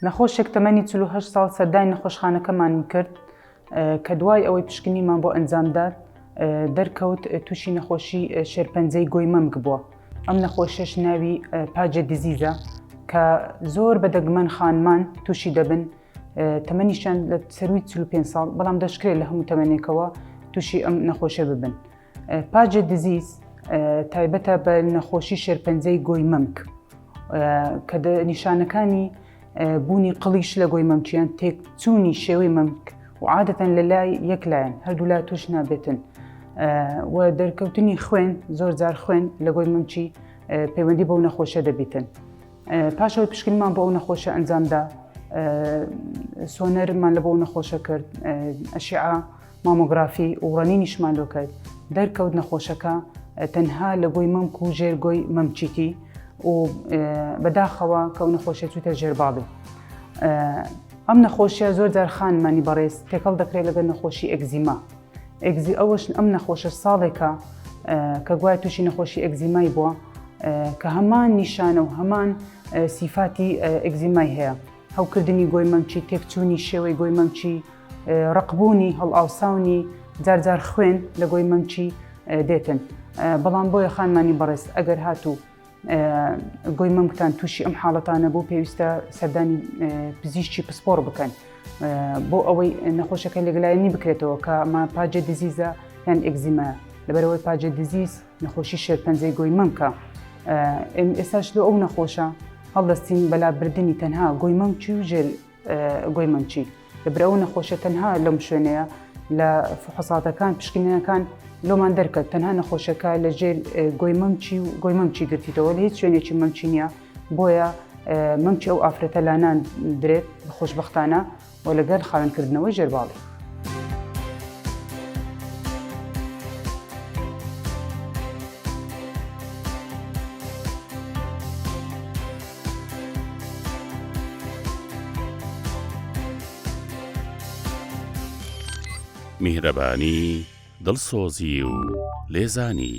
نەخۆشێک تەمەنی چل و هەشت ساڵ سەردانی نەخۆشخانەکەمانی کرد کە دوای ئەوەی پشکنینمان بۆ ئەنجامدا دەرکەوت تووشی نەخۆشی شێرپەنجەی گۆی مەمک بووە ئەم نەخۆشیش ناوی پاجە دیزیزە کە زۆر بە دەگمەن خانمان تووشی دەبن تەمەنیشان لە سەروی چل و پێنج ساڵ بەڵام دەشکرێت لە هەموو تەمەنێکەوە تووشی ئەم نەخۆشە ببن. پاجە دزیز تایبەتە بە نەخۆشی شێرپەنجەی گۆی مەمک کە نیشانەکانی بوونی قڵیش لە گۆی مەمکیان تێکچوونی شێوەی مەمک و عادەتەن لە لای یەک لایەن هەردوو لا توش نابێتن و دەرکەوتنی خوێن زۆر جار خوێن لە گۆی مەمکی پەیوەندی بەو نەخۆشە دەبیتن پاشەوە پشکنمان بۆ ئەو نەخۆشە ئەنجامدا سۆنەرمان لە بۆ نەخۆشە کرد ئەشیعە مامۆگرافی و ڕەنینیشمان لۆ کرد، دەرکەوت نەخۆشەکە تەنها لە گۆی مەمک و ژێر گۆی مەمکیتی و بەداخەوە کە ئەو نەخۆشیە چووتە ژێر باڵی. ئەم نەخۆشیە زۆر جار خانمانی بەڕێز تێکەڵ دەکرێت لەگەر نەخۆشی ئەگزیما ئەگزی ئەوەش ئەم نەخۆشە ساڵێکە کە گوای تووشی نەخۆشی ئەگزیمای بووە کە هەمان نیشانە و هەمان سیفاتی ئەگزیمای هەیە هەوکردنی گۆی مەمکی، تێکچوونی شێوەی گۆی مەمکی، ڕەقبوونی، هەڵئاوساونی، جار جار خوێن لە گۆی مەمکی دێتن. بەڵام بۆیە خانمانی بەڕێز ئەگەر هاتوو گۆی مەمکتان تووشی ئەم حاڵەتانە بوو پێویستە سەردانی پزیشکی پسپۆڕ بکەن. بۆ ئەوەی نەخۆشەکە لێگلایەنی بکرێتەوە کە ماپاجێ دزیزە یان ئەگزیمە لەبەرەوەی پاجێ دزیز نەخۆشی شێرپەنجەی گۆی مەمکە ئێستاش لۆ ئەو نەخۆشە هەڵدەستین بەلا بردننی تەنها گۆی مەمچی و ژێل گۆی مەمچی لە برەوە نەخۆشە تەنها لەم شوێنەیە لە فحساتەکان پشکنینەکان لۆمان دەرکەت تەنها نەخۆشەکە لە ژێر گۆی مەمچی و گۆی مەمچی گرتیتەوە لە هیچ شوێنێکی مەمچینە بۆیە مەمچی ئەو ئافرەتە لانان درێت خۆشببختانە و لەگەل خاوێن کردنەوەی ژێر باڵی. میهرەبانی، دڵسۆزی و لێزانی.